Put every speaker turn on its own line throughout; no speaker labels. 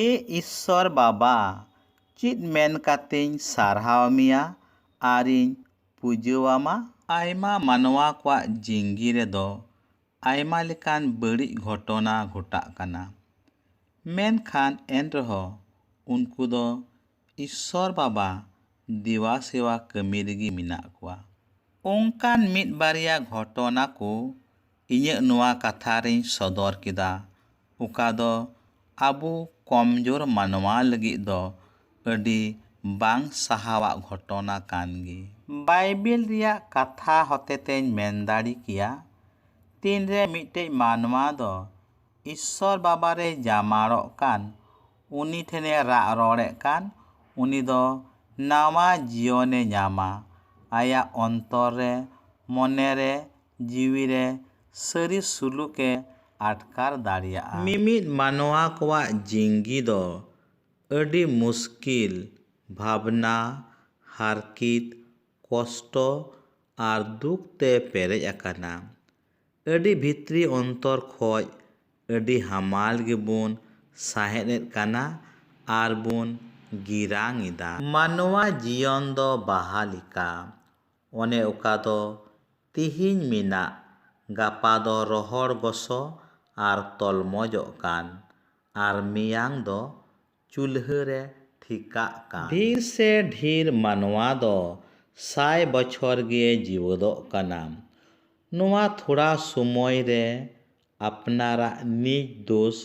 ᱮ ᱤᱥᱥᱚᱨ ᱵᱟᱵᱟ ᱪᱮᱫ ᱢᱮᱱ ᱠᱟᱛᱮᱧ ᱥᱟᱨᱦᱟᱣ ᱢᱮᱭᱟ ᱟᱨᱤᱧ ᱯᱩᱡᱟᱹᱣᱟᱢᱟ? ᱟᱭᱢᱟ ᱢᱟᱱᱣᱟ ᱠᱚᱣᱟᱜ ᱡᱤᱝᱜᱤ ᱨᱮᱫᱚ ᱟᱭᱢᱟ ᱞᱮᱠᱟᱱ ᱵᱟᱹᱲᱤᱡ ᱜᱷᱚᱴᱚᱱᱟ ᱜᱷᱚᱴᱟᱜ ᱠᱟᱱᱟ᱾ ᱢᱮᱱᱠᱷᱟᱱ ᱮᱱᱨᱮᱦᱚᱸ ᱩᱱᱠᱩ ᱫᱚ ᱤᱥᱥᱚᱨ ᱵᱟᱵᱟ ᱫᱮᱵᱟ ᱥᱮᱵᱟ ᱠᱟᱹᱢᱤ ᱨᱮᱜᱮ ᱢᱮᱱᱟᱜ ᱠᱚᱣᱟ ᱚᱱᱠᱟᱱ ᱢᱤᱫ ᱵᱟᱨᱭᱟ ᱜᱷᱚᱴᱚᱱᱟ ᱠᱚ ᱤᱧᱟᱹᱜ ᱱᱚᱣᱟ ᱠᱟᱛᱷᱟ ᱨᱮᱧ ᱥᱚᱫᱚᱨ ᱠᱮᱫᱟ ᱚᱠᱟ ᱫᱚ ᱟᱵᱚ ᱠᱚᱢ ᱡᱳᱨ ᱢᱟᱱᱣᱟ ᱞᱟᱹᱜᱤᱫ ᱫᱚ ᱟᱹᱰᱤ ᱵᱟᱝ ᱥᱟᱦᱟᱣᱟᱜ ᱜᱷᱚᱴᱚᱱᱟ ᱠᱟᱱ ᱜᱮ᱾ ᱵᱟᱭᱵᱮᱞ ᱨᱮᱭᱟᱜ ᱠᱟᱛᱷᱟ ᱦᱚᱛᱮ ᱛᱮᱧ ᱢᱮᱱ ᱫᱟᱲᱮ ᱠᱮᱭᱟ ᱛᱤᱱ ᱨᱮ ᱢᱤᱫᱴᱮᱡ ᱢᱟᱱᱣᱟ ᱫᱚ ᱤᱥᱥᱚᱨ ᱵᱟᱵᱟ ᱨᱮᱭ ᱡᱟᱢᱟᱲᱚᱜ ᱠᱟᱱ ᱩᱱᱤ ᱴᱷᱮᱱᱮ ᱨᱟᱜ ᱨᱚᱲᱮᱫ ᱠᱟᱱ ᱩᱱᱤ ᱫᱚ ᱱᱟᱶᱟ ᱡᱤᱭᱚᱱᱮ ᱧᱟᱢᱟ᱾ ᱟᱭᱟᱜ ᱚᱱᱛᱚᱨ ᱨᱮ, ᱢᱚᱱᱮ ᱨᱮ, ᱡᱤᱣᱤ ᱨᱮ ᱥᱟᱹᱨᱤ ᱥᱩᱞᱩᱠ ᱮ ᱟᱴᱠᱟᱨ ᱫᱟᱲᱮᱭᱟᱜᱼᱟ᱾ ᱢᱤᱢᱤᱫ ᱢᱟᱱᱣᱟ ᱠᱚᱣᱟᱜ ᱡᱤᱝᱜᱤ ᱫᱚ ᱟᱹᱰᱤ ᱢᱩᱥᱠᱤᱞ ᱵᱷᱟᱵᱽᱱᱟ, ᱦᱟᱨᱠᱤᱛ, ᱠᱚᱥᱴᱚ ᱟᱨ ᱫᱩᱠ ᱛᱮ ᱯᱮᱨᱮᱡ ᱟᱠᱟᱱᱟ᱾ ᱟᱹᱰᱤ ᱵᱷᱤᱛᱨᱤ ᱚᱱᱛᱚᱨ ᱠᱷᱚᱡ ᱟᱹᱰᱤ ᱦᱟᱢᱟᱞ ᱜᱮᱵᱚᱱ ᱥᱟᱦᱮᱫ ᱮᱫ ᱠᱟᱱᱟ ᱟᱨ ᱵᱚᱱ ᱜᱤᱨᱟᱝ ᱮᱫᱟ᱾ ᱢᱟᱱᱣᱟ ᱡᱤᱭᱚᱱ ᱫᱚ ᱵᱟᱦᱟ ᱞᱮᱠᱟ, ᱚᱱᱮ ᱚᱠᱟ ᱫᱚ ᱛᱤᱦᱤᱧ ᱢᱮᱱᱟᱜ ᱜᱟᱯᱟ ᱫᱚ ᱨᱚᱦᱚᱲ ᱜᱚᱥᱚ ᱟᱨ ᱛᱚᱞᱢᱚᱡᱚᱜ ᱠᱟᱱ ᱟᱨ ᱢᱮᱭᱟᱝ ᱫᱚ ᱪᱩᱞᱦᱟᱹ ᱨᱮ ᱴᱷᱤᱠᱟᱜ ᱠᱟᱱ᱾ ᱰᱷᱤᱨ ᱥᱮ ᱰᱷᱤᱨ ᱢᱟᱱᱣᱟ ᱫᱚ ᱥᱟᱭ ᱵᱚᱪᱷᱚᱨ ᱜᱮ ᱡᱤᱣᱟᱹᱫᱚᱜ ᱠᱟᱱᱟ᱾ ᱱᱚᱣᱟ ᱛᱷᱚᱲᱟ ᱥᱚᱢᱚᱭ ᱨᱮ ᱟᱯᱱᱟᱨᱟᱜ ᱱᱤᱡ ᱫᱳᱥ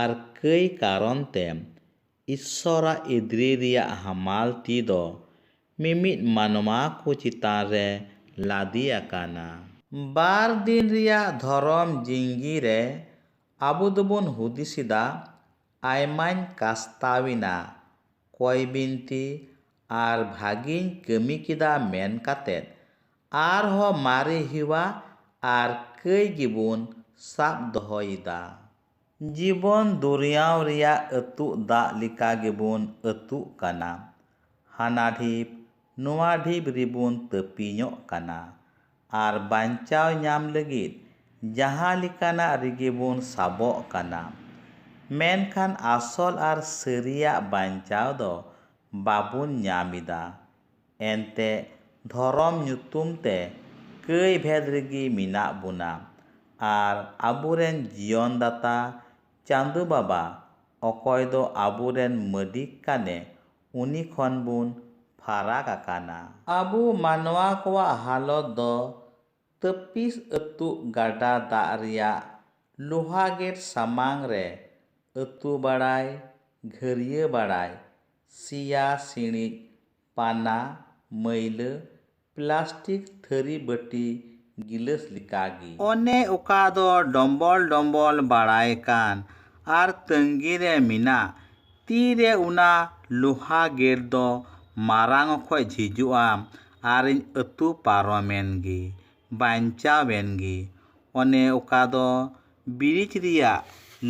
ᱟᱨ ᱠᱟᱹᱭ ᱠᱟᱨᱚᱱ ᱛᱮ ᱤᱥᱥᱚᱨᱟᱜ ᱤᱫᱽᱨᱤ ᱨᱮᱭᱟᱜ ᱦᱟᱢᱟᱞ ᱛᱤ ᱫᱚ ᱢᱤᱢᱤᱫ ᱢᱟᱱᱣᱟ ᱠᱚ ᱪᱮᱛᱟᱱ ᱨᱮ ᱞᱟᱫᱮ ᱟᱠᱟᱱᱟ᱾ ᱵᱟᱨ ᱫᱤᱱ ᱨᱮᱭᱟᱜ ᱫᱷᱚᱨᱚᱢ ᱡᱤᱝᱜᱤ ᱨᱮ ᱟᱵᱚ ᱫᱚᱵᱚᱱ ᱦᱩᱫᱤᱥ ᱮᱫᱟ ᱟᱭᱢᱟᱧ ᱠᱟᱥᱛᱟᱣ ᱮᱱᱟ ᱠᱚᱭ ᱵᱤᱱᱛᱤ ᱟᱨ ᱵᱷᱟᱹᱜᱤᱧ ᱠᱟᱹᱢᱤ ᱠᱮᱫᱟ ᱢᱮᱱ ᱠᱟᱛᱮ ᱟᱨᱦᱚᱸ ᱢᱟᱨᱮ ᱦᱮᱣᱟ ᱟᱨ ᱠᱟᱹᱭ ᱜᱮᱵᱚᱱ ᱥᱟᱵ ᱫᱚᱦᱚᱭ ᱮᱫᱟ᱾ ᱡᱤᱵᱚᱱ ᱫᱚᱨᱭᱟᱣ ᱨᱮᱭᱟᱜ ᱟᱹᱛᱩᱜ ᱫᱟᱜ ᱞᱮᱠᱟ ᱜᱮᱵᱚᱱ ᱟᱹᱛᱩᱜ ᱠᱟᱱᱟ᱾ ᱦᱟᱱᱟ ᱰᱷᱤᱯ ᱱᱚᱣᱟ ᱰᱷᱤᱯ ᱨᱮᱵᱚᱱ ᱛᱟᱹᱯᱤᱧᱚᱜ ᱠᱟᱱᱟ᱾ ᱟᱨ ᱵᱟᱧᱪᱟᱣ ᱧᱟᱢ ᱞᱟᱹᱜᱤᱫ ᱡᱟᱦᱟᱸ ᱞᱮᱠᱟᱱᱟᱜ ᱨᱮᱜᱮ ᱵᱚᱱ ᱥᱟᱵᱚᱜ ᱠᱟᱱᱟ᱾ ᱢᱮᱱᱠᱷᱟᱱ ᱟᱥᱚᱞ ᱟᱨ ᱥᱟᱹᱨᱤᱭᱟᱜ ᱵᱟᱧᱪᱟᱣ ᱫᱚ ᱵᱟᱵᱚᱱ ᱧᱟᱢ ᱮᱫᱟ᱾ ᱮᱱᱛᱮ ᱫᱷᱚᱨᱚᱢ ᱧᱩᱛᱩᱢ ᱛᱮ ᱠᱟᱹᱭ ᱵᱷᱮᱫᱽ ᱨᱮᱜᱮ ᱢᱮᱱᱟᱜ ᱵᱚᱱᱟ ᱟᱨ ᱟᱵᱚ ᱨᱮᱱ ᱡᱤᱭᱚᱱ ᱫᱟᱛᱟ ᱪᱟᱸᱫᱚ ᱵᱟᱵᱟ ᱚᱠᱚᱭ ᱫᱚ ᱟᱵᱚ ᱨᱮᱱ ᱢᱟᱹᱞᱤᱠ ᱠᱟᱱᱮ ᱩᱱᱤ ᱠᱷᱚᱱ ᱵᱚᱱ ᱯᱷᱟᱨᱟᱠ ᱟᱠᱟᱱᱟ᱾ ᱟᱵᱚ ᱢᱟᱱᱣᱟ ᱠᱚᱣᱟᱜ ᱦᱟᱞᱚᱛ ᱫᱚ ᱛᱟᱹᱯᱤᱥ ᱟᱹᱛᱩᱜ ᱜᱟᱰᱟ ᱫᱟᱜ ᱨᱮᱭᱟᱜ ᱞᱳᱦᱟ ᱜᱮᱴ ᱥᱟᱢᱟᱝ ᱨᱮ ᱟᱹᱛᱩ ᱵᱟᱲᱟᱭ, ᱜᱷᱟᱹᱨᱭᱟᱹ ᱵᱟᱲᱟᱭ, ᱥᱮᱭᱟ ᱥᱤᱬᱤᱡ, ᱯᱟᱱᱟ, ᱢᱟᱹᱭᱞᱟᱹ, ᱯᱞᱟᱥᱴᱤᱠ ᱛᱷᱟᱹᱨᱤ ᱵᱟᱹᱴᱤ ᱜᱤᱞᱟᱹᱥ ᱞᱮᱠᱟ ᱜᱮ᱾ ᱚᱱᱮ ᱚᱠᱟ ᱫᱚ ᱰᱚᱢᱵᱚᱞ ᱰᱚᱢᱵᱚᱞ ᱵᱟᱲᱟᱭ ᱠᱟᱱ ᱟᱨ ᱛᱟᱺᱜᱤ ᱨᱮ ᱢᱮᱱᱟᱜ᱾ ᱛᱤ ᱨᱮ ᱚᱱᱟ ᱞᱳᱦᱟ ᱜᱮᱴ ᱫᱚ ᱢᱟᱨᱟᱝ ᱚᱠᱚᱡ ᱡᱷᱤᱡᱚᱜᱼᱟ ᱟᱨᱤᱧ ᱟᱹᱛᱩ ᱯᱟᱨᱚᱢᱮᱱ ᱜᱮ᱾ ᱵᱟᱧᱪᱟᱣᱮᱱ ᱜᱮ᱾ ᱚᱱᱮ ᱚᱠᱟ ᱫᱚ ᱵᱨᱤᱡᱽ ᱨᱮᱭᱟᱜ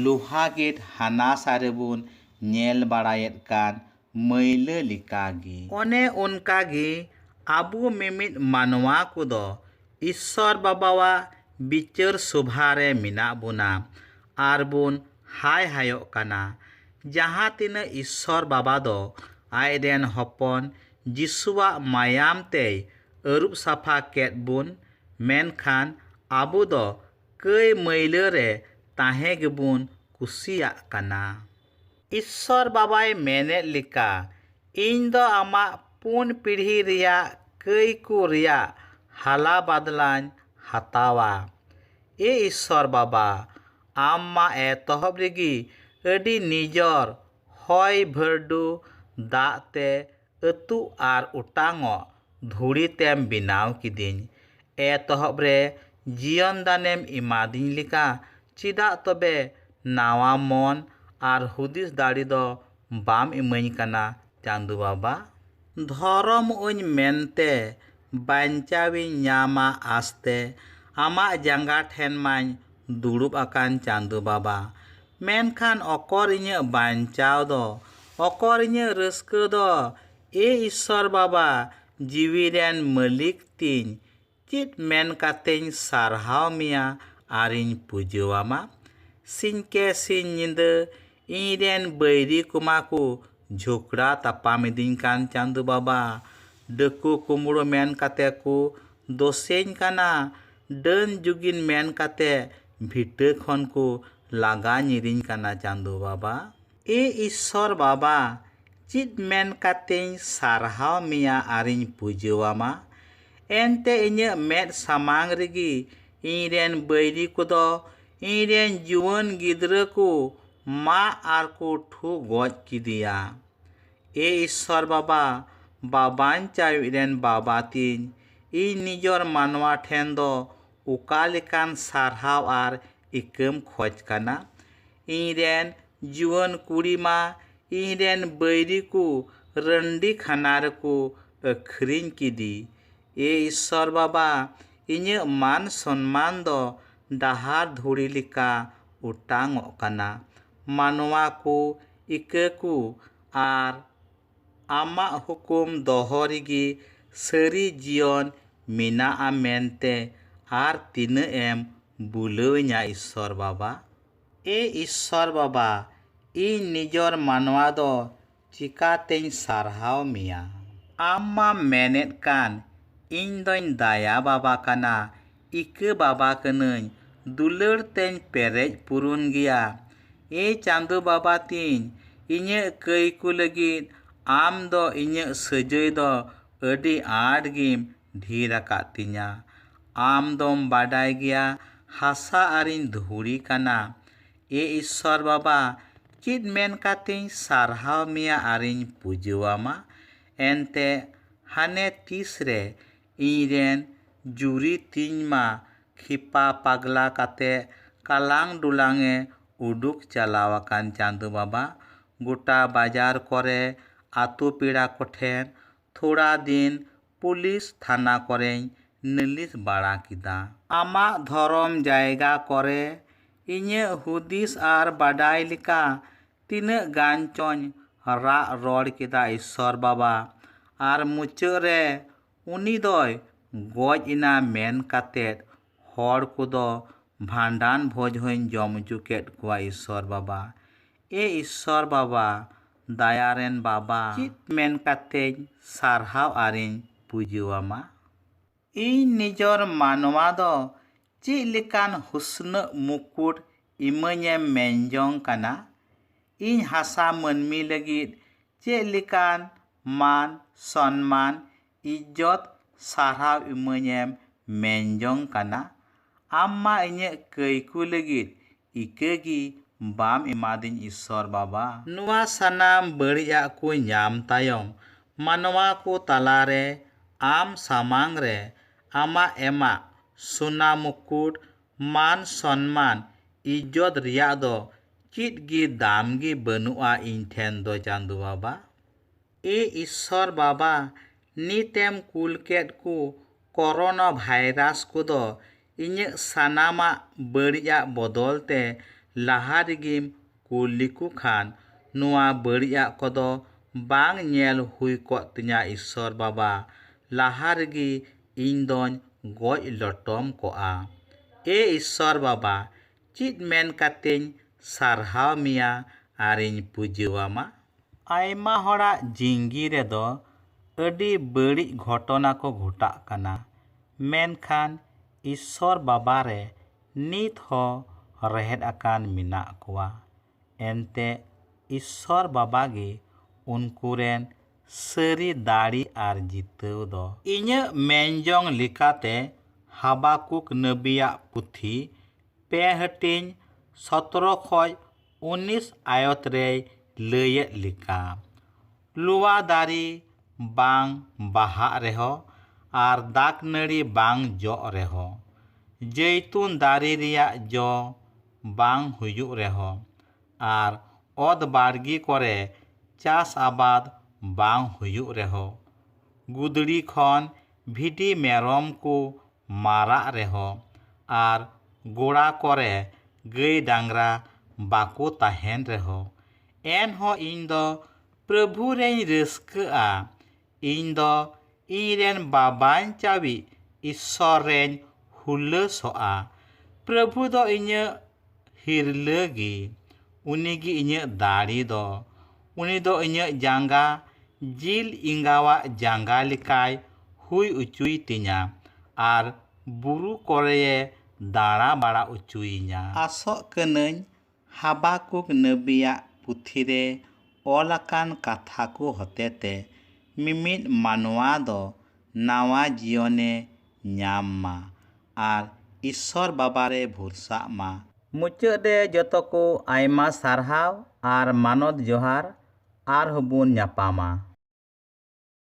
ᱞᱳᱦᱟ ᱜᱮᱴ ᱦᱟᱱᱟ ᱥᱟ ᱨᱮᱵᱚᱱ ᱧᱮᱞ ᱵᱟᱲᱟᱭᱮᱫ ᱠᱟᱱ ᱢᱟᱹᱭᱞᱟᱹ ᱞᱮᱠᱟ ᱜᱮ᱾ ᱚᱱᱮ ᱚᱱᱠᱟ ᱜᱮ ᱟᱵᱚ ᱢᱤᱢᱤᱫ ᱢᱟᱱᱣᱟ ᱠᱚᱫᱚ ᱤᱥᱥᱚᱨ ᱵᱟᱵᱟᱣᱟᱜ ᱵᱤᱪᱟᱹᱨ ᱥᱚᱵᱷᱟ ᱨᱮ ᱢᱮᱱᱟᱜ ᱵᱚᱱᱟ ᱟᱨ ᱵᱚᱱ ᱦᱟᱭ ᱦᱟᱭᱚᱜ ᱠᱟᱱᱟ᱾ ᱡᱟᱦᱟᱸ ᱛᱤᱱᱟᱹᱜ ᱤᱥᱥᱚᱨ ᱵᱟᱵᱟ ᱫᱚ ᱟᱡ ᱨᱮᱱ ᱦᱚᱯᱚᱱ ᱡᱤᱥᱩᱣᱟᱜ ᱢᱟᱭᱟᱢ ᱛᱮᱭ ᱟᱹᱨᱩᱵ ᱥᱟᱯᱷᱟ ᱠᱮᱫ ᱵᱚᱱ, ᱢᱮᱱᱠᱷᱟᱱ ᱟᱵᱚ ᱫᱚ ᱠᱟᱹᱭ ᱢᱟᱹᱭᱞᱟᱹ ᱨᱮ ᱛᱟᱦᱮᱸ ᱜᱮᱵᱚᱱ ᱠᱩᱥᱤᱭᱟᱜ ᱠᱟᱱᱟ᱾ ᱤᱥᱥᱚᱨ ᱵᱟᱵᱟᱭ ᱢᱮᱱᱮᱫ ᱞᱮᱠᱟ, ᱤᱧ ᱫᱚ ᱟᱢᱟᱜ ᱯᱩᱱ ᱯᱤᱲᱦᱤ ᱨᱮᱭᱟᱜ ᱠᱟᱹᱭ ᱠᱚ ᱨᱮᱭᱟᱜ ᱦᱟᱞᱟ ᱵᱟᱫᱽᱞᱟᱧ ᱦᱟᱛᱟᱣᱟ᱾ ᱮ ᱤᱥᱥᱚᱨ ᱵᱟᱵᱟ, ᱟᱢ ᱢᱟ ᱮᱛᱚᱦᱚᱵ ᱨᱮᱜᱮ ᱟᱹᱰᱤ ᱱᱤᱡᱚᱨ ᱦᱚᱭ ᱵᱷᱟᱹᱨᱰᱩ ᱫᱟᱜ ᱛᱮ ᱟᱹᱛᱩᱜ ᱟᱨ ᱚᱴᱟᱝᱚᱜ ᱫᱷᱩᱲᱤ ᱛᱮᱢ ᱵᱮᱱᱟᱣ ᱠᱤᱫᱤᱧ᱾ ᱮᱛᱚᱦᱚᱵ ᱨᱮ ᱡᱤᱭᱚᱱ ᱫᱟᱱᱮᱢ ᱮᱢᱟᱫᱤᱧ ᱞᱮᱠᱟ ᱪᱮᱫᱟᱜ ᱛᱚᱵᱮ ᱱᱟᱣᱟ ᱢᱚᱱ ᱟᱨ ᱦᱩᱫᱤᱥ ᱫᱟᱲᱮ ᱫᱚ ᱵᱟᱢ ᱮᱢᱟᱹᱧ ᱠᱟᱱᱟ ᱪᱟᱸᱫᱚ ᱵᱟᱵᱟ? ᱫᱷᱚᱨᱚᱢᱚᱜᱼᱟᱹᱧ ᱢᱮᱱᱛᱮ ᱵᱟᱧᱪᱟᱣᱤᱧ ᱧᱟᱢᱟ ᱟᱸᱥᱛᱮ ᱟᱢᱟᱜ ᱡᱟᱸᱜᱟ ᱴᱷᱮᱱ ᱢᱟᱧ ᱫᱩᱲᱩᱵ ᱟᱠᱟᱱ ᱪᱟᱸᱫᱚ ᱵᱟᱵᱟ᱾ ᱢᱮᱱᱠᱷᱟᱱ ᱚᱠᱚᱨ ᱤᱧᱟᱹᱜ ᱵᱟᱧᱪᱟᱣ ᱫᱚ? ᱚᱠᱚᱨ ᱤᱧᱟᱹᱜ ᱨᱟᱹᱥᱠᱟᱹ ᱫᱚ? ᱮ ᱤᱥᱥᱚᱨ ᱵᱟᱵᱟ, ᱡᱤᱣᱤ ᱨᱮᱱ ᱢᱟᱹᱞᱤᱠ ᱛᱤᱧ, ᱪᱮᱫ ᱢᱮᱱ ᱠᱟᱛᱮᱧ ᱥᱟᱨᱦᱟᱣ ᱢᱮᱭᱟ ᱟᱨᱤᱧ ᱯᱩᱡᱟᱹ ᱟᱢᱟ? ᱥᱤᱧ ᱠᱮ ᱥᱤᱧ ᱧᱤᱫᱟᱹ ᱤᱧ ᱨᱮᱱ ᱵᱟᱹᱭᱨᱤ ᱠᱚᱢᱟ ᱠᱚ ᱡᱷᱚᱜᱽᱲᱟ ᱛᱟᱯᱟᱢ ᱤᱫᱤᱧ ᱠᱟᱱ ᱪᱟᱸᱫᱚ ᱵᱟᱵᱟ᱾ ᱰᱟᱹᱠᱩ ᱠᱩᱢᱵᱽᱲᱩ ᱢᱮᱱ ᱠᱟᱛᱮ ᱠᱚ ᱫᱳᱥᱮᱧ ᱠᱟᱱᱟ, ᱰᱟᱹᱱ ᱡᱩᱜᱤᱱ ᱢᱮᱱ ᱠᱟᱛᱮ ᱵᱷᱤᱴᱟᱹ ᱠᱷᱚᱱ ᱠᱚ ᱞᱟᱜᱟ ᱧᱤᱨᱤᱧ ᱠᱟᱱᱟ ᱪᱟᱸᱫᱚ ᱵᱟᱵᱟ᱾ ᱮ ᱤᱥᱥᱚᱨ ᱵᱟᱵᱟ ᱪᱮᱫ ᱢᱮᱱ ᱠᱟᱛᱮᱧ ᱥᱟᱨᱦᱟᱣ ᱢᱮᱭᱟ ᱟᱨᱤᱧ ᱯᱩᱡᱟᱹ ᱟᱢᱟ? ᱮᱱᱛᱮ ᱤᱧᱟᱹᱜ ᱢᱮᱫ ᱥᱟᱢᱟᱝ ᱨᱮᱜᱮ ᱤᱧ ᱨᱮᱱ ᱵᱟᱹᱭᱨᱤ ᱠᱚᱫᱚ ᱤᱧ ᱨᱮᱱ ᱡᱩᱣᱟᱹᱱ ᱜᱤᱫᱽᱨᱟᱹ ᱠᱚ ᱢᱟᱜ ᱟᱨ ᱠᱚ ᱴᱷᱩ ᱜᱚᱡ ᱠᱮᱫᱮᱭᱟ᱾ ᱮ ᱤᱥᱥᱚᱨ ᱵᱟᱵᱟ, ᱵᱟᱵᱟᱧᱪᱟᱣᱤᱡ ᱨᱮᱱ ᱵᱟᱵᱟ ᱛᱤᱧ, ᱤᱧ ᱱᱤᱡᱚᱨ ᱢᱟᱱᱣᱟ ᱴᱷᱮᱱ ᱫᱚ ᱚᱠᱟ ᱞᱮᱠᱟᱱ ᱥᱟᱨᱦᱟᱣ ᱟᱨ ᱤᱠᱟᱹᱢ ᱠᱷᱚᱡᱽ ᱠᱟᱱᱟ ᱤᱧ ᱨᱮᱱ ᱡᱩᱣᱟᱹᱱ ᱠᱩᱲᱤ ᱢᱟ ᱤᱧ ᱨᱮᱱ ᱵᱟᱹᱭᱨᱤ ᱠᱚ ᱨᱟᱹᱱᱰᱤ ᱠᱷᱟᱱᱟ ᱨᱮᱠᱚ ᱟᱹᱠᱷᱨᱤᱧ ᱠᱮᱫᱮ ᱮ ᱤᱥᱥᱚᱨ ᱵᱟᱵᱟ ᱤᱧᱟᱹᱜ ᱢᱟᱱ ᱥᱚᱱᱢᱟᱱ ᱫᱚ ᱰᱟᱦᱟᱨ ᱫᱷᱩᱲᱤ ᱞᱮᱠᱟ ᱚᱴᱟᱝᱚᱜ ᱠᱟᱱᱟ ᱢᱟᱱᱣᱟ ᱠᱚ ᱤᱠᱟᱹ ᱠᱚ ᱟᱨ ᱟᱢᱟᱜ ᱦᱩᱠᱩᱢ ᱫᱚᱦᱚ ᱨᱮᱜᱮ ᱥᱟᱹᱨᱤ ᱡᱤᱭᱚᱱ ᱢᱮᱱᱟᱜᱼᱟ ᱢᱮᱱᱛᱮ ᱟᱨ ᱛᱤᱱᱟᱹᱜ ᱮᱢ ᱵᱩᱞᱟᱹᱣᱤᱧᱟ ᱤᱥᱥᱚᱨ ᱵᱟᱵᱟ᱾ ᱮ ᱤᱥᱥᱚᱨ ᱵᱟᱵᱟ, ᱤᱧ ᱱᱤᱡᱚᱨ ᱢᱟᱱᱣᱟ ᱫᱚ ᱪᱮᱠᱟᱛᱮᱧ ᱥᱟᱨᱦᱟᱣ ᱢᱮᱭᱟ᱾ ᱟᱢ ᱢᱟᱢ ᱢᱮᱱᱮᱫ ᱠᱟᱱ ᱤᱧ ᱫᱚᱧ ᱫᱟᱭᱟ ᱵᱟᱵᱟ ᱠᱟᱱᱟ, ᱤᱠᱟᱹ ᱵᱟᱵᱟ ᱠᱟᱹᱱᱟᱹᱧ ᱫᱩᱞᱟᱹᱲ ᱛᱮᱧ ᱯᱮᱨᱮᱡ ᱯᱩᱨᱩᱱ ᱜᱮᱭᱟ ᱮ ᱪᱟᱸᱫᱚ ᱵᱟᱵᱟ ᱛᱤᱧ ᱤᱧᱟᱹᱜ ᱠᱟᱹᱭ ᱠᱚ ᱞᱟᱹᱜᱤᱫ ᱟᱢ ᱫᱚ ᱤᱧᱟᱹᱜ ᱥᱟᱹᱡᱟᱹᱭ ᱫᱚ ᱟᱹᱰᱤ ᱟᱸᱴ ᱜᱮᱢ ᱰᱷᱮᱨ ᱟᱠᱟᱫ ᱛᱤᱧᱟᱹ ᱟᱢ ᱫᱚᱢ ᱵᱟᱰᱟᱭ ᱜᱮᱭᱟ ᱦᱟᱥᱟ ᱟᱨᱤᱧ ᱫᱷᱩᱲᱤ ᱠᱟᱱᱟ ᱮ ᱤᱥᱥᱚᱨ ᱵᱟᱵᱟ ᱪᱮᱫ ᱢᱮᱱ ᱠᱟᱛᱮᱧ ᱥᱟᱨᱦᱟᱣ ᱢᱮᱭᱟ ᱟᱨᱤᱧ ᱯᱩᱡᱟᱹᱣᱟᱢᱟ ᱮᱱᱛᱮᱫ ᱦᱟᱱᱮ ᱛᱤᱥ ᱨᱮ ᱤᱧ ᱨᱮᱱ ᱡᱩᱨᱤ ᱛᱤᱧ ᱢᱟ ᱠᱷᱮᱯᱟ ᱯᱟᱜᱽᱞᱟ ᱠᱟᱛᱮ ᱠᱟᱞᱟᱝ ᱰᱩᱞᱟᱝ ᱮ ᱩᱰᱩᱠ ᱪᱟᱞᱟᱣ ᱟᱠᱟᱱ ᱪᱟᱸᱫᱚ ᱵᱟᱵᱟ ᱜᱚᱴᱟ ᱵᱟᱡᱟᱨ ᱠᱚᱨᱮ ᱟᱛᱳ ᱯᱮᱲᱟ ᱠᱚᱴᱷᱮᱱ ᱛᱷᱚᱲᱟ ᱫᱤᱱ ᱯᱩᱞᱤᱥ ᱛᱷᱟᱱᱟ ᱠᱚᱨᱮᱧ ᱱᱟᱹᱞᱤᱥ ᱵᱟᱲᱟ ᱠᱮᱫᱟ᱾ ᱟᱢᱟᱜ ᱫᱷᱚᱨᱚᱢ ᱡᱟᱭᱜᱟ ᱠᱚᱨᱮ ᱤᱧᱟᱹᱜ ᱦᱩᱫᱤᱥ ᱟᱨ ᱵᱟᱰᱟᱭ ᱞᱮᱠᱟ ᱛᱤᱱᱟᱹᱜ ᱜᱟᱱ ᱪᱚᱧ ᱨᱟᱜ ᱨᱚᱲ ᱠᱮᱫᱟ ᱤᱥᱥᱚᱨ ᱵᱟᱵᱟ ᱟᱨ ᱢᱩᱪᱟᱹᱫ ᱨᱮ ᱩᱱᱤ ᱫᱚᱭ ᱜᱚᱡ ᱮᱱᱟ ᱢᱮᱱ ᱠᱟᱛᱮ ᱦᱚᱲ ᱠᱚᱫᱚ ᱵᱷᱟᱸᱰᱟᱱ ᱵᱷᱚᱡᱽ ᱦᱚᱸᱧ ᱡᱚᱢ ᱚᱪᱚ ᱠᱮᱫ ᱠᱚᱣᱟ ᱤᱥᱥᱚᱨ ᱵᱟᱵᱟ᱾ ᱮ ᱤᱥᱥᱚᱨ ᱵᱟᱵᱟ, ᱫᱟᱭᱟ ᱨᱮᱱ ᱵᱟᱵᱟ᱾ ᱪᱮᱫ ᱢᱮᱱ ᱠᱟᱛᱮᱧ ᱥᱟᱨᱦᱟᱣ ᱟᱨᱤᱧ ᱯᱩᱡᱟᱹᱣᱟᱢᱟ? ᱤᱧ ᱱᱤᱡᱚᱨ ᱢᱟᱱᱣᱟ ᱫᱚ ᱪᱮᱫ ᱞᱮᱠᱟᱱ ᱦᱩᱥᱱᱟᱹᱜ ᱢᱩᱠᱩᱴ ᱤᱢᱟᱹᱧᱮᱢ ᱢᱮᱱ ᱡᱚᱝ ᱠᱟᱱᱟ? ᱤᱧ ᱦᱟᱥᱟ ᱢᱟᱹᱱᱢᱤ ᱞᱟᱹᱜᱤᱫ ᱪᱮᱫ ᱞᱮᱠᱟᱱ ᱢᱟᱱ, ᱥᱚᱱᱢᱟᱱ, ᱤᱡᱡᱚᱛ, ᱥᱟᱨᱦᱟᱣ ᱤᱢᱟᱹᱧᱮᱢ ᱢᱮᱱ ᱡᱚᱝ ᱠᱟᱱᱟ? ᱟᱢ ᱢᱟ ᱤᱧᱟᱹᱜ ᱠᱟᱹᱭᱠᱩ ᱞᱟᱹᱜᱤᱫ ᱤᱠᱟᱹ ᱜᱮ ᱵᱟᱢ ᱮᱢᱟᱫᱤᱧ ᱤᱥᱥᱚᱨ ᱵᱟᱵᱟ᱾ ᱱᱚᱣᱟ ᱥᱟᱱᱟᱢ ᱵᱟᱹᱲᱤᱡᱟᱜ ᱠᱚ ᱧᱟᱢ ᱛᱟᱭᱚᱢ ᱢᱟᱱᱣᱟ ᱠᱚ ᱛᱟᱞᱟ ᱨᱮ ᱟᱢ ᱥᱟᱢᱟᱝ ᱨᱮ ᱟᱢᱟᱜ ᱮᱢᱟᱜ ᱥᱚᱱᱟ ᱢᱩᱠᱩᱴ, ᱢᱟᱱ ᱥᱚᱱᱢᱟᱱ, ᱤᱡᱡᱚᱛ ᱨᱮᱭᱟᱜ ᱫᱚ ᱪᱮᱫ ᱜᱮ ᱫᱟᱢ ᱜᱮ ᱵᱟᱹᱱᱩᱜᱼᱟ ᱤᱧ ᱴᱷᱮᱱ ᱫᱚ ᱪᱟᱸᱫᱚ ᱵᱟᱵᱟ᱾ ᱮ ᱤᱥᱥᱚᱨ ᱵᱟᱵᱟ ᱱᱤᱛᱮᱢ ᱠᱩᱞ ᱠᱮᱫ ᱠᱚ ᱠᱚᱨᱳᱱᱟ ᱵᱷᱟᱭᱨᱟᱥ ᱠᱚᱫᱚ ᱤᱧᱟᱹᱜ ᱥᱟᱱᱟᱢᱟᱜ ᱵᱟᱹᱲᱤᱡ ᱟᱜ ᱵᱚᱫᱚᱞ ᱛᱮ ᱞᱟᱦᱟ ᱨᱮᱜᱮᱢ ᱠᱩᱞ ᱞᱮᱠᱚ ᱠᱷᱟᱱ ᱱᱚᱣᱟ ᱵᱟᱹᱲᱤᱡ ᱟᱜ ᱠᱚᱫᱚ ᱵᱟᱝ ᱧᱮᱞ ᱦᱩᱭ ᱠᱚᱜ ᱛᱤᱧᱟᱹ ᱤᱥᱥᱚᱨ ᱵᱟᱵᱟ ᱞᱟᱦᱟ ᱨᱮᱜᱮ ᱤᱧ ᱫᱚᱧ ᱜᱚᱡ ᱞᱚᱴᱚᱢ ᱠᱚᱜᱼᱟ ᱮ ᱤᱥᱥᱚᱨ ᱵᱟᱵᱟ ᱪᱮᱫ ᱢᱮᱱ ᱠᱟᱛᱮᱧ ᱥᱟᱨᱦᱟᱣ ᱢᱮᱭᱟ ᱟᱨᱤᱧ ᱯᱩᱡᱟᱹᱣᱟᱢᱟ? ᱟᱭᱢᱟ ᱦᱚᱲᱟᱜ ᱡᱤᱝᱜᱤ ᱨᱮᱫᱚ ᱟᱹᱰᱤ ᱵᱟᱹᱲᱤᱡ ᱜᱷᱚᱴᱚᱱᱟ ᱠᱚ ᱜᱷᱚᱴᱟᱜ ᱠᱟᱱᱟ᱾ ᱢᱮᱱᱠᱷᱟᱱ ᱤᱥᱥᱚᱨ ᱵᱟᱵᱟ ᱨᱮ ᱱᱤᱛ ᱦᱚᱸ ᱨᱮᱦᱮᱫ ᱟᱠᱟᱱ ᱢᱮᱱᱟᱜ ᱠᱚᱣᱟ᱾ ᱮᱱᱛᱮ ᱤᱥᱥᱚᱨ ᱵᱟᱵᱟ ᱜᱮ ᱩᱱᱠᱩ ᱨᱮᱱ ᱥᱟᱹᱨᱤ ᱫᱟᱲᱮ ᱟᱨ ᱡᱤᱛᱟᱹᱣ ᱫᱚ᱾ ᱤᱧᱟᱹᱜ ᱢᱮᱱᱡᱚᱝ ᱞᱮᱠᱟᱛᱮ ᱦᱟᱵᱟᱠᱩᱠ ᱱᱟᱹᱵᱤᱭᱟᱜ ᱯᱩᱛᱷᱤ ᱯᱮ ᱦᱟᱹᱴᱤᱧ ᱥᱚᱛᱨᱚ ᱠᱷᱚᱡ ᱩᱱᱤᱥ ᱟᱭᱚᱛ ᱨᱮᱭ ᱞᱟᱹᱭᱮᱫ ᱞᱮᱠᱟ, ᱞᱚᱣᱟ ᱫᱟᱨᱮ ᱵᱟᱝ ᱵᱟᱦᱟᱜ ᱨᱮᱦᱚ ᱟᱨ ᱫᱟᱠᱱᱟᱹᱲᱤ ᱵᱟᱝ ᱡᱚᱜ ᱨᱮᱦᱚ ᱡᱟᱹᱭᱛᱩᱱ ᱫᱟᱨᱮ ᱨᱮᱭᱟᱜ ᱡᱚ ᱵᱟᱝ ᱦᱩᱭᱩᱜ ᱨᱮᱦᱚᱸ ᱟᱨ ᱚᱛ ᱵᱟᱲᱜᱮ ᱠᱚᱨᱮ ᱪᱟᱥ ᱟᱵᱟᱫᱽ ᱵᱟᱝ ᱦᱩᱭᱩᱜ ᱨᱮᱦᱚᱸ᱾ ᱜᱩᱫᱽᱲᱤ ᱠᱷᱚᱱ ᱵᱷᱤᱰᱤ ᱢᱮᱨᱚᱢ ᱠᱚ ᱢᱟᱨᱟᱜ ᱨᱮᱦᱚᱸ ᱟᱨ ᱜᱚᱲᱟ ᱠᱚᱨᱮ ᱜᱟᱹᱭ ᱰᱟᱝᱨᱟ ᱵᱟᱠᱚ ᱛᱟᱦᱮᱸᱱ ᱨᱮᱦᱚᱸ ᱮᱱᱦᱚᱸ ᱤᱧ ᱫᱚ ᱯᱨᱚᱵᱷᱩ ᱨᱮᱧ ᱨᱟᱹᱥᱠᱟᱹᱜᱼᱟ᱾ ᱤᱧ ᱫᱚ ᱤᱧ ᱨᱮᱱ ᱵᱟᱵᱟᱧᱪᱟᱣᱤᱡ ᱤᱥᱥᱚᱨ ᱨᱮᱧ ᱦᱩᱞᱟᱹᱥᱚᱜᱼᱟ᱾ ᱯᱨᱚᱵᱷᱩ ᱫᱚ ᱤᱧᱟᱹᱜ ᱦᱤᱨᱞᱟᱹ ᱜᱮ᱾ ᱩᱱᱤ ᱜᱮ ᱤᱧᱟᱹᱜ ᱫᱟᱲᱮ ᱫᱚ᱾ ᱩᱱᱤ ᱫᱚ ᱤᱧᱟᱹᱜ ᱡᱟᱸᱜᱟ ᱡᱤᱞ ᱮᱸᱜᱟᱣᱟᱜ ᱡᱟᱸᱜᱟ ᱞᱮᱠᱟᱭ ᱦᱩᱭ ᱚᱪᱚᱭ ᱛᱤᱧᱟ ᱟᱨ ᱵᱩᱨᱩ ᱠᱚᱨᱮᱭᱮ ᱫᱟᱬᱟ ᱵᱟᱲᱟ ᱚᱪᱚᱭᱤᱧᱟ᱾ ᱟᱥᱚᱜ ᱠᱟᱹᱱᱟᱹᱧ ᱦᱟᱵᱟᱠᱩᱠ ᱱᱟᱹᱵᱤᱭᱟᱜ ᱯᱩᱛᱷᱤ ᱨᱮ ᱚᱞ ᱟᱠᱟᱱ ᱠᱟᱛᱷᱟ ᱠᱚ ᱦᱚᱛᱮᱛᱮ ᱢᱤᱢᱤᱫ ᱢᱟᱱᱣᱟ ᱫᱚ ᱱᱟᱣᱟ ᱡᱤᱭᱚᱱ ᱮ ᱧᱟᱢ ᱢᱟ ᱟᱨ ᱤᱥᱥᱚᱨ ᱵᱟᱵᱟ ᱨᱮ ᱵᱷᱩᱨᱥᱟᱜ ᱢᱟ᱾ ᱢᱩᱪᱟᱹᱫ ᱨᱮ ᱡᱚᱛᱚ ᱠᱚ ᱟᱭᱢᱟ ᱥᱟᱨᱦᱟᱣ ᱟᱨ ᱢᱟᱱᱚᱛ ᱡᱚᱦᱟᱨ ᱟᱨᱦᱚᱸ ᱵᱚᱱ ᱧᱟᱯᱟᱢᱟ᱾